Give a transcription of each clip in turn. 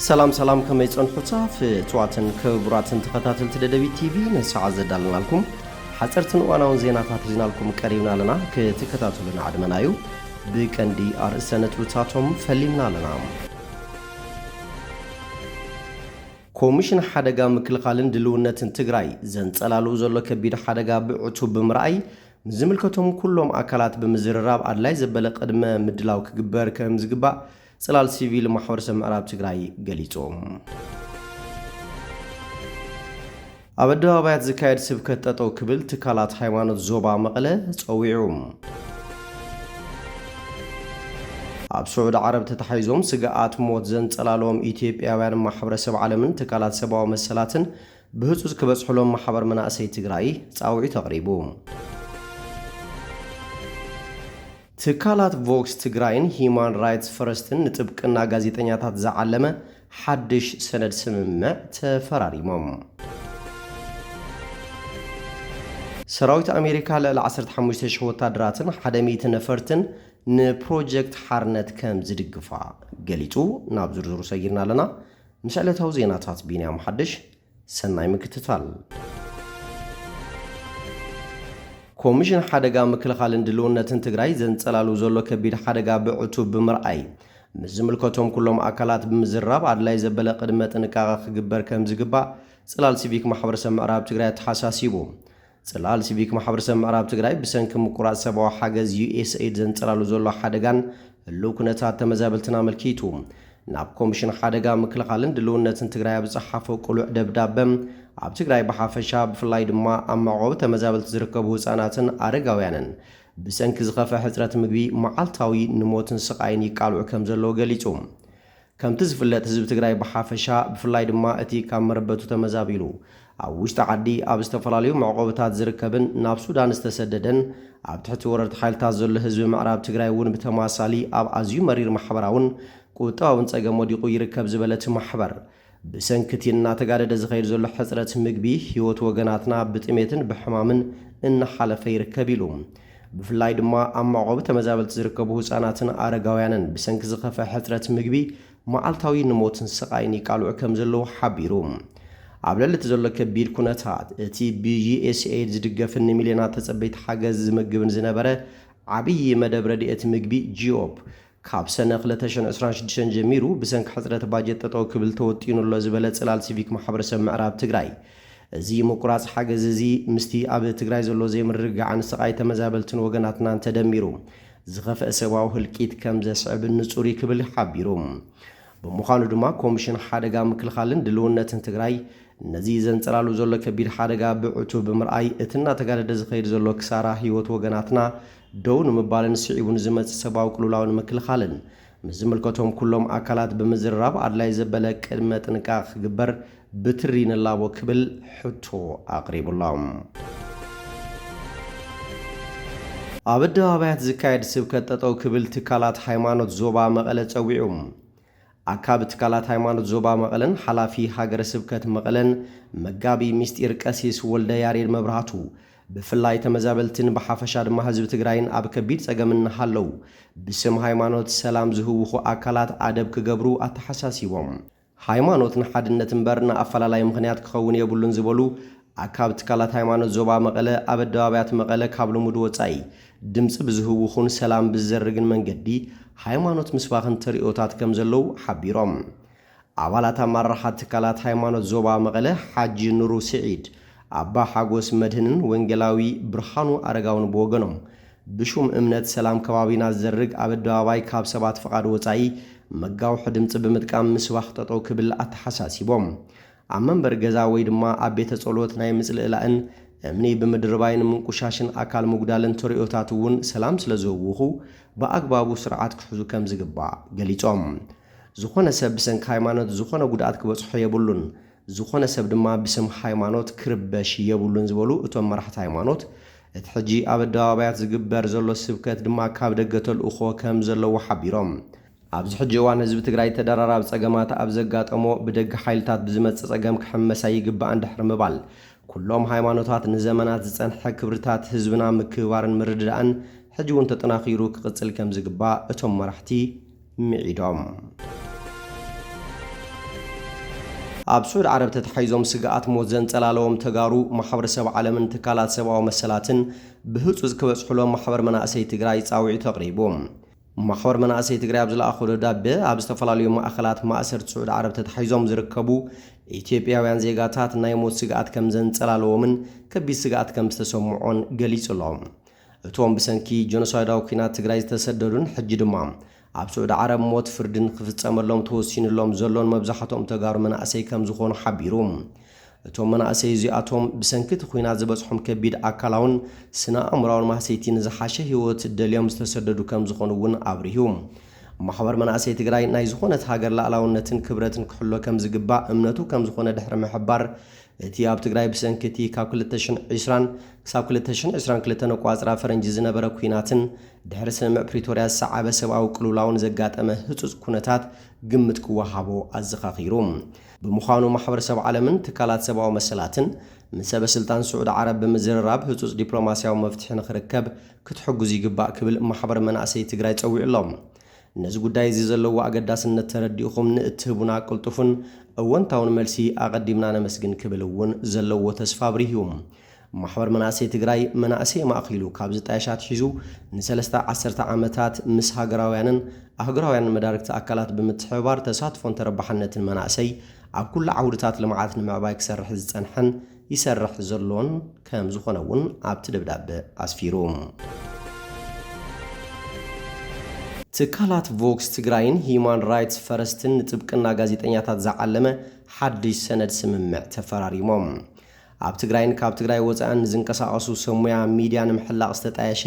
ሰላም ሰላም ከመይ ጸንሑታ ፍትዋትን ክቡራትን ተኸታተልቲ ደደቢት ቲቪ ንሰዓ ዘዳለናልኩም ሓጸርትን እዋናውን ዜናታት ሒዝናልኩም ቀሪብና ኣለና ክትከታተሉና ዕድመና እዩ ብቀንዲ ኣርእስተ ነጥብታቶም ፈሊምና ኣለና ኮሚሽን ሓደጋ ምክልኻልን ድልውነትን ትግራይ ዘንጸላልው ዘሎ ከቢድ ሓደጋ ብዕቱብ ብምርኣይ ምስ ዝምልከቶም ኩሎም ኣካላት ብምዝርራብ ኣድላይ ዘበለ ቅድመ ምድላው ክግበር ከም ዝግባእ ጽላል ሲቪል ማሕበረሰብ ምዕራብ ትግራይ ገሊጹ። ኣብ ኣደባባያት ዝካየድ ስብከት ጠጠው ክብል ትካላት ሃይማኖት ዞባ መቐለ ፀዊዑ። ኣብ ስዑዲ ዓረብ ተታሒዞም ስግኣት ሞት ዘንጸላለዎም ኢትዮጵያውያን ማሕበረሰብ ዓለምን ትካላት ሰብኣዊ መሰላትን ብህጹጽ ክበጽሕሎም ማሕበር መናእሰይ ትግራይ ጻውዒት ኣቕሪቡ። ትካላት ቮክስ ትግራይን ሂዩማን ራይትስ ፈረስትን ንጥብቅና ጋዜጠኛታት ዝዓለመ ሓድሽ ሰነድ ስምምዕ ተፈራሪሞም። ሰራዊት ኣሜሪካ ልዕሊ ዓሰርተ ሓሙሽተ ሽሕ ወታደራትን ሓደ ሚእቲ ነፈርትን ንፕሮጀክት ሓርነት ከም ዝድግፋ ገሊፁ። ናብ ዝርዝሩ ሰጊርና ኣለና። ምስ ዕለታዊ ዜናታት ቢንያም ሓድሽ። ሰናይ ምክትታል። ኮሚሽን ሓደጋ ምክልኻልን ድልውነትን ትግራይ ዘንፀላሉ ዘሎ ከቢድ ሓደጋ ብዕቱብ ብምርኣይ ምስ ዝምልከቶም ኩሎም ኣካላት ብምዝራብ ኣድላይ ዘበለ ቅድመ ጥንቃቐ ክግበር ከምዝግባእ ፅላል ሲቪክ ማሕበረሰብ ምዕራብ ትግራይ ኣተሓሳሲቡ። ጽላል ሲቪክ ማሕበረሰብ ምዕራብ ትግራይ ብሰንኪ ምቁራጽ ሰብኣዊ ሓገዝ ዩኤስኤይድ ዘንጸላሉ ዘሎ ሓደጋን ህሉው ኩነታት ተመዛበልትን ኣመልኪቱ ናብ ኮሚሽን ሓደጋ ምክልኻልን ድልውነትን ትግራይ ኣብ ዝጸሓፎ ቅሉዕ ደብዳበ ኣብ ትግራይ ብሓፈሻ ብፍላይ ድማ ኣብ መዕቆቢ ተመዛበልቲ ዝርከቡ ህጻናትን ኣረጋውያንን ብሰንኪ ዝኸፍአ ሕጽረት ምግቢ መዓልታዊ ንሞትን ስቓይን ይቃልዑ ከም ዘለዉ ገሊጹ። ከምቲ ዝፍለጥ ህዝቢ ትግራይ ብሓፈሻ ብፍላይ ድማ እቲ ካብ መረበቱ ተመዛቢሉ ኣብ ውሽጢ ዓዲ ኣብ ዝተፈላለዩ መዕቖብታት ዝርከብን ናብ ሱዳን ዝተሰደደን ኣብ ትሕቲ ወረርቲ ሓይልታት ዘሎ ህዝቢ ምዕራብ ትግራይ እውን ብተመሳሳሊ ኣብ ኣዝዩ መሪር ማሕበራውን ቁጠባውን ፀገም ወዲቑ ይርከብ ዝበለ እቲ ማሕበር ብሰንኪ እቲ እናተጋደደ ዝኸይድ ዘሎ ሕፅረት ምግቢ ህይወት ወገናትና ብጥሜትን ብሕማምን እናሓለፈ ይርከብ ኢሉ። ብፍላይ ድማ ኣብ መዕቆቢ ተመዛበልቲ ዝርከቡ ህጻናትን ኣረጋውያንን ብሰንኪ ዝኸፍኣ ሕጽረት ምግቢ መዓልታዊ ንሞትን ስቓይን ይቃልዑ ከምዘለዉ ሓቢሩ። ኣብ ልዕሊ እቲ ዘሎ ከቢድ ኩነታት፣ እቲ ብዩኤስኤይድ ዝድገፍን ንሚልዮናት ተጸበይቲ ሓገዝ ዝምግብን ዝነበረ ዓብዪ መደብ ረድኤት ምግቢ ጂኦፕ፣ ካብ ሰነ ክልተ ሽሕ ዕስራን ሽዱሽተን ጀሚሩ ብሰንኪ ሕፅረት ባጀት ጠጠው ክብል ተወጢኑ ኣሎ ዝበለ ፅላል ሲቪክ ማሕበረሰብ ምዕራብ ትግራይ እዚ ምቁራፅ ሓገዝ እዚ ምስቲ ኣብ ትግራይ ዘሎ ዘይምርግጋዕን ስቓይ ተመዛበልትን ወገናትናን ተደሚሩ ዝኸፈኣ ሰብኣዊ ህልቂት ከምዘስዕብ ንፁር እዩ ክብል ሓቢሩ። ብምዃኑ ድማ ኮሚሽን ሓደጋ ምክልኻልን ድልውነትን ትግራይ ነዚ ዘንፀላሉ ዘሎ ከቢድ ሓደጋ ብዕቱብ ብምርኣይ እቲ እናተጋደደ ዝኸይድ ዘሎ ክሳራ ህይወት ወገናትና ደው ንምባልን ስዒቡ ንዝመጽእ ሰብኣዊ ቅልውላው ንምክልኻልን ምስ ዝምልከቶም ኩሎም ኣካላት ብምዝርራብ ኣድላይ ዘበለ ቅድመ ጥንቃቐ ክግበር ብትሪ ንላቦ ክብል ሕቶ ኣቕሪቡ'ሎ። ኣብ ኣደባባያት ዝካየድ ስብከት ጠጠው ክብል ትካላት ሃይማኖት ዞባ መቐለ ጸዊዑ። ኣካቢ ትካላት ሃይማኖት ዞባ መቐለን ሓላፊ ሃገረ ስብከት መቐለን መጋቢ ሚስጢር ቀሲስ ወልደያሬድ መብራህቱ ብፍላይ ተመዛበልትን ብሓፈሻ ድማ ህዝቢ ትግራይን ኣብ ከቢድ ፀገም እናሃለው ብስም ሃይማኖት ሰላም ዝህውኹ ኣካላት ኣደብ ክገብሩ ኣተሓሳሲቦም። ሃይማኖት ንሓድነት እምበር ንኣፈላላይ ምኽንያት ክኸውን የብሉን ዝበሉ ኣካብ ትካላት ሃይማኖት ዞባ መቐለ ኣብ ኣደባባያት መቐለ ካብ ልሙድ ወፃኢ ድምፂ ብዝህውኹን ሰላም ብዝዘርግን መንገዲ ሃይማኖት ምስባኽን ተርእዮታት ከምዘለው ሓቢሮም። ኣባላት ኣመራርሓ ትካላት ሃይማኖት ዞባ መቐለ ሓጂ ኑሩ ስዒድ፣ ኣባ ሓጎስ መድህንን ወንጌላዊ ብርሃኑ ኣረጋውን ብወገኖም ብሹም እምነት ሰላም ከባቢና ዝዘርግ ኣብ ኣደባባይ ካብ ሰባት ፍቓድ ወፃኢ መጋውሒ ድምፂ ብምጥቃም ምስባኽ ጠጠው ክብል ኣተሓሳሲቦም። ኣብ መንበሪ ገዛ ወይ ድማ ኣብ ቤተ ጸሎት ናይ ምጽልእላእን፣ እምኒ ብምድርባይን ምንቁሻሽን ኣካል ምጉዳልን ተርእዮታት እውን ሰላም ስለ ዝህውኹ ብኣግባቡ ስርዓት ክሕዙ ከም ዝግባእ ገሊጾም። ዝኾነ ሰብ ብሰንኪ ሃይማኖት ዝኾነ ጉድኣት ክበጽሖ የብሉን፣ ዝኾነ ሰብ ድማ ብስም ሃይማኖት ክርበሽ የብሉን ዝበሉ እቶም መራሕቲ ሃይማኖት፣ እቲ ሕጂ ኣብ ኣደባባያት ዝግበር ዘሎ ስብከት ድማ ካብ ደገ ተልእኾ ከም ዘለዎ ሓቢሮም። ኣብዚ ሕጂ እዋን ህዝቢ ትግራይ ተደራራቢ ፀገማት ኣብ ዘጋጠሞ ብደገ ሓይልታት ብዝመፅእ ፀገም ክሕመስ ኣይግባእን ድሕሪ ምባል ኩሎም ሃይማኖታት ንዘመናት ዝፀንሐ ክብርታት ህዝብና ምክብባርን ምርድዳእን ሕጂ እውን ተጠናኺሩ ክቕፅል ከምዝግባእ እቶም መራሕቲ ምዒዶም። ኣብ ስዑድ ዓረብ ተተሓሒዞም ስግኣት ሞት ዘንፀላለዎም ተጋሩ ማሕበረሰብ ዓለምን ትካላት ሰብኣዊ መሰላትን ብህፁፅ ክበፅሑሎም ማሕበር መናእሰይ ትግራይ ፃውዒት ኣቕሪቡ። ማሕበር መናእሰይ ትግራይ ኣብ ዝለኣኾ ደብዳበ፣ ኣብ ዝተፈላለዩ ማእኸላት ማእሰርቲ ስዑድ ዓረብ ተታሒዞም ዝርከቡ ኢትዮጵያውያን ዜጋታት ናይ ሞት ስግኣት ከምዘንፀላለዎምን ከቢድ ስግኣት ከምዝተሰምዖን ገሊፁ ኣሎ። እቶም ብሰንኪ ጀኖሳይዳዊ ኲናት ትግራይ ዝተሰደዱን ሕጂ ድማ ኣብ ስዑድ ዓረብ ሞት ፍርዲ ንክፍፀመሎም ተወሲንሎም ዘሎን መብዛሕትኦም ተጋሩ መናእሰይ ከምዝኾኑ ሓቢሩ። እቶም መናእሰይ እዚኣቶም ብሰንኪ እቲ ኹናት ዝበፅሖም ከቢድ ኣካላውን ስነ ኣእምሮኣውን ማህሰይቲ ንዝሓሸ ህይወት ደልዮም ዝተሰደዱ ከምዝኾኑ እውን ኣብሪሁ። ማሕበር መናእሰይ ትግራይ ናይ ዝኾነት ሃገር ላእላውነትን ክብረትን ክሕሎ ከምዝግባእ እምነቱ ከምዝኾነ ድሕሪ ምሕባር እቲ ኣብ ትግራይ ብሰንኪ እቲ ካብ ክልተ ሽሕ ዕስራን ክሳብ ክልተ ሽሕ ዕስራን ክልተን ኣቋፅራ ፈረንጂ ዝነበረ ኲናትን ድሕሪ ስምምዕ ፕሪቶርያ ዝሰዓበ ሰብኣዊ ቅልውላውን ዘጋጠመ ህፁፅ ኩነታት ግምት ክወሃቦ ኣዘኻኺሩ። ብምዃኑ ማሕበረሰብ ዓለምን ትካላት ሰብኣዊ መሰላትን ምስ ሰበስልጣን ስዑዲ ዓረብ ብምዝርራብ ህፁፅ ዲፕሎማሲያዊ መፍትሒ ንኽርከብ ክትሕግዙ ይግባእ ክብል ማሕበር መናእሰይ ትግራይ ፀዊዑ ኣሎ። ነዚ ጉዳይ እዚ ዘለዎ ኣገዳስነት ተረዲእኹም ንእትህቡና ቅልጡፍን እወንታውን መልሲ ኣቐዲምና ነመስግን ክብል እውን ዘለዎ ተስፋ ኣብሪሁ። ማሕበር መናእሰይ ትግራይ መናእሰይ ኣማእኺሉ ካብ ዝጣየሽ ኣትሒዙ ንሰለስተ ዓሰርተ ዓመታት ምስ ሃገራውያንን ኣህጉራውያንን መዳርግቲ ኣካላት ብምትሕብባር ተሳትፎን ተረባሕነትን መናእሰይ ኣብ ኩሉ ዓውድታት ልምዓት ንምዕባይ ክሰርሕ ዝፀንሐን ይሰርሕ ዘሎን ከምዝኾነ እውን ኣብቲ ደብዳበ ኣስፊሩ። ትካላት ቮክስ ትግራይን ሂዩማን ራይትስ ፈረስትን ንጥብቅና ጋዜጠኛታት ዝዓለመ ሓድሽ ሰነድ ስምምዕ ተፈራሪሞም። ኣብ ትግራይን ካብ ትግራይ ወፃእን ዝንቀሳቐሱ ሰብ ሙያ ሚድያ ንምሕላቕ ዝተጣየሸ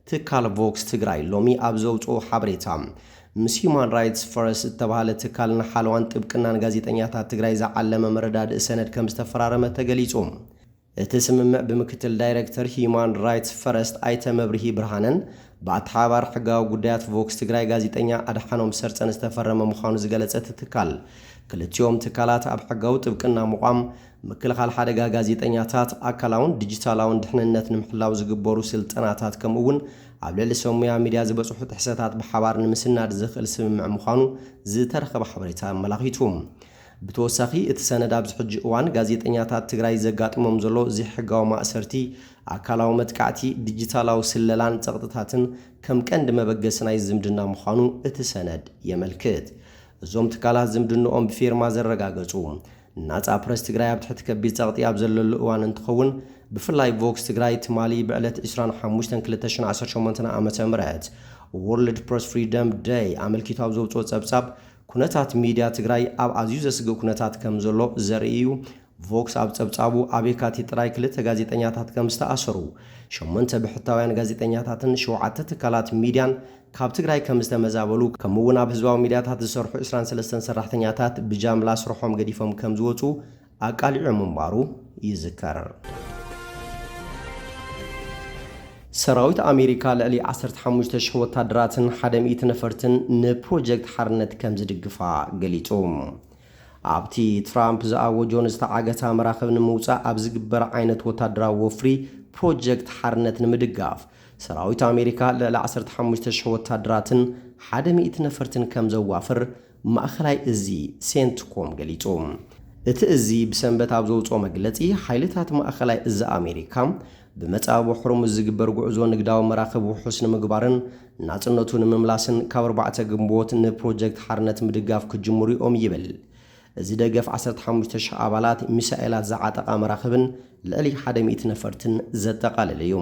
ትካል ቮክስ ትግራይ ሎሚ ኣብ ዘውፅኦ ሓበሬታ ምስ ሂዩማን ራይትስ ፈረስ ዝተብሃለ ትካል ንሓለዋን ጥብቅናን ጋዜጠኛታት ትግራይ ዝዓለመ መረዳድኢ ሰነድ ከምዝተፈራረመ ተገሊፁ። እቲ ስምምዕ ብምክትል ዳይረክተር ሂዩማን ራይትስ ፈረስት ኣይተ መብርሂ ብርሃነን ብኣተሓባባሪ ሕጋዊ ጉዳያት ቮክስ ትግራይ ጋዜጠኛ ኣድሓኖም ሰርፀን ዝተፈረመ ምዃኑ ዝገለፀ እቲ ትካል ክልቲኦም ትካላት ኣብ ሕጋዊ ጥብቅና ምቋም ምክልኻል ሓደጋ ጋዜጠኛታት፣ ኣካላውን ዲጂታላውን ድሕንነት ንምሕላው ዝግበሩ ስልጠናታት ከምኡ እውን ኣብ ልዕሊ ሰብ ሙያ ሚድያ ዝበፅሑ ጥሕሰታት ብሓባር ንምስናድ ዘኽእል ስምምዕ ምዃኑ ዝተረኸበ ሓበሬታ ኣመላኺቱ። ብተወሳኺ እቲ ሰነድ ኣብዚ ሕጂ እዋን ጋዜጠኛታት ትግራይ ዘጋጥሞም ዘሎ ዘይሕጋዊ ማእሰርቲ፣ ኣካላዊ መጥቃዕቲ፣ ዲጂታላዊ ስለላን ፀቕጥታትን ከም ቀንዲ መበገሲ ናይ ዝምድና ምዃኑ እቲ ሰነድ የመልክት። እዞም ትካላት ዝምድንኦም ብፊርማ ዘረጋገፁ፣ ናጻ ፕረስ ትግራይ ኣብ ትሕቲ ከቢድ ጸቕጢ ኣብ ዘለሉ እዋን እንትኸውን፣ ብፍላይ ቮክስ ትግራይ ትማሊ ብዕለት ዕስራን ሓሙሽተን ክልተ ሽሕን ዓሰርተ ሸሞንተ ዓመተ ምህረት፣ World Press Freedom Day፣ ኣመልኪቱ ኣብ ዘውጽኦ ጸብጻብ፣ ኩነታት ሚድያ ትግራይ ኣብ ኣዝዩ ዘስግእ ኩነታት ከምዘሎ ዘርኢ እዩ። ቮክስ ኣብ ጸብጻቡ፣ ኣብ የካቲት ጥራይ ክልተ ጋዜጠኛታት ከምዝተኣሰሩ፣ ሸሞንተ ብሕታውያን ጋዜጠኛታትን ሸውዓተ ትካላት ሚድያን ካብ ትግራይ ከም ዝተመዛበሉ ከምኡ'ውን ኣብ ህዝባዊ ሚድያታት ዝሰርሑ ዕስራን ሰለስተን ሰራሕተኛታት ብጃምላ ስርሖም ገዲፎም ከም ዝወጹ ኣቃሊዑ ምንባሩ ይዝከር። ሰራዊት ኣሜሪካ ልዕሊ ዓሰርተ ሓሙሽተ ሽሕ ወታደራትን ሓደ ሚእቲ ነፈርትን ንፕሮጀክት ሓርነት ከም ዝድግፋ ገሊጹ። ኣብቲ ትራምፕ ዝኣወጆ ንዝተዓገታ መራኽብ ንምውጻእ ኣብ ዝግበር ዓይነት ወታደራዊ ወፍሪ ፕሮጀክት ሓርነት ንምድጋፍ ሰራዊት ኣሜሪካ ልዕሊ ዓሰርተ ሓሙሽተ ሽሕ ወታደራትን ሓደ ሚእቲ ነፈርትን ከም ዘዋፍር ማእኸላይ እዚ ሴንትኮም ገሊፁ። እቲ እዚ ብሰንበት ኣብ ዘውፅኦ መግለፂ ሓይልታት ማእኸላይ እዚ ኣሜሪካ ብመፃብቦ ሆርሙዝ ዝግበር ጉዕዞ ንግዳዊ መራኽብ ውሑስ ንምግባርን ናፅነቱ ንምምላስን ካብ ኣርባዕተ ግንቦት ንፕሮጀክት ሓርነት ምድጋፍ ክጅምሩ እዮም ይብል እዚ ደገፍ ዓሰርተ ሓሙሽተ ሽሕ ኣባላት፣ ሚሳኤላት ዝዓጠቓ መራኽብን ልዕሊ ሓደ ሚእቲ ነፈርትን ዘጠቓለለ እዩ።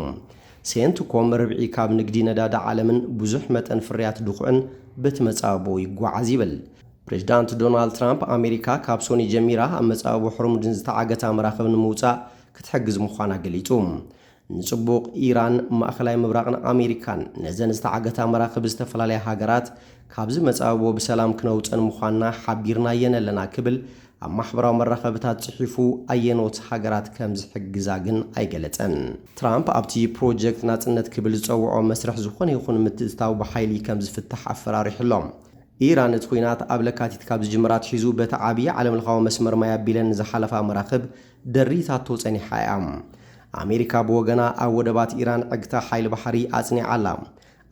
ሴንትኮም ርብዒ ካብ ንግዲ ነዳዲ ዓለምን ብዙሕ መጠን ፍርያት ድኹዕን በቲ መጻብቦ ይጓዓዝ ይብል። ፕሬዝዳንት ዶናልድ ትራምፕ ኣሜሪካ ካብ ሶኒ ጀሚራ ኣብ መጻብቦ ሖርሙድን ዝተዓገታ መራኽብ ንምውጻእ ክትሕግዝ ምዃና ገሊጹ። ንጽቡቕ ኢራን፣ ማእከላይ ምብራቕን ኣሜሪካን፣ ነዘን ዝተዓገታ መራኽብ ዝተፈላለያ ሃገራት ካብዚ መጻብቦ ብሰላም ክነውጸን ምዃንና ሓቢርናየን ኣለና ክብል ኣብ ማሕበራዊ መራኸብታት ጽሒፉ ኣየኖት ሃገራት ከም ዝሕግዛ ግን ኣይገለጸን። ትራምፕ ኣብቲ ፕሮጀክት ናጽነት ክብል ዝጸውዖ መስርሕ ዝኾነ ይኹን ምትእትታው ብሓይሊ ከም ዝፍታሕ ኣፈራሪሑ ኣሎ። ኢራን እቲ ኲናት ኣብ ለካቲት ካብ ዝጅምራ ኣትሒዙ በቲ ዓብዪ ዓለምለኻዊ መስመር ማይ ኣቢለን ንዝሓለፋ መራኽብ ደሪታቶ ጸኒሓ እያ። ኣሜሪካ ብወገና ኣብ ወደባት ኢራን ዕግታ ሓይሊ ባሕሪ ኣጽኒዓ ኣላ።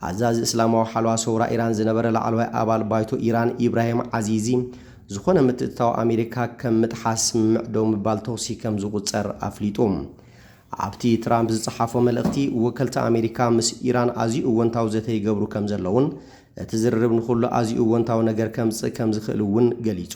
ኣዛዚ እስላማዊ ሓለዋ ሰውራ ኢራን ዝነበረ ላዕለዋይ ኣባል ባይቶ ኢራን ኢብራሂም ዓዚዚ ዝኾነ ምትእትታው ኣሜሪካ ከም ምጥሓስ ስምምዕ ደው ምባል ተኹሲ ከም ዝቑጸር ኣፍሊጡ። ኣብቲ ትራምፕ ዝጸሓፎ መልእኽቲ ወከልቲ ኣሜሪካ ምስ ኢራን ኣዝዩ እወንታዊ ዘተ ይገብሩ ከም ዘለዉን እቲ ዝርርብ ንኹሉ ኣዝዩ እወንታዊ ነገር ከምጽእ ከም ዝኽእል እውን ገሊጹ።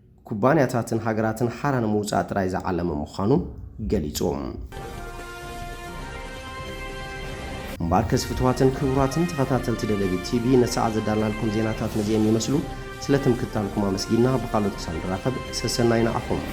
ኩባንያታትን ሃገራትን ሓራ ንምውጻእ ጥራይ ዝዓለመ ምዃኑ ገሊጹ። እምበኣርከስ ፍትዋትን ክቡራትን ተኸታተልቲ ደደቢት ቲቪ ንሰዓት ዘዳልናልኩም ዜናታት ነዚኤን ይመስሉ። ስለ ትምክትታልኩም ኣመስጊንና ብኻልኦት ክሳብ ንራኸብ ሰሰናዩ ንዓኹም።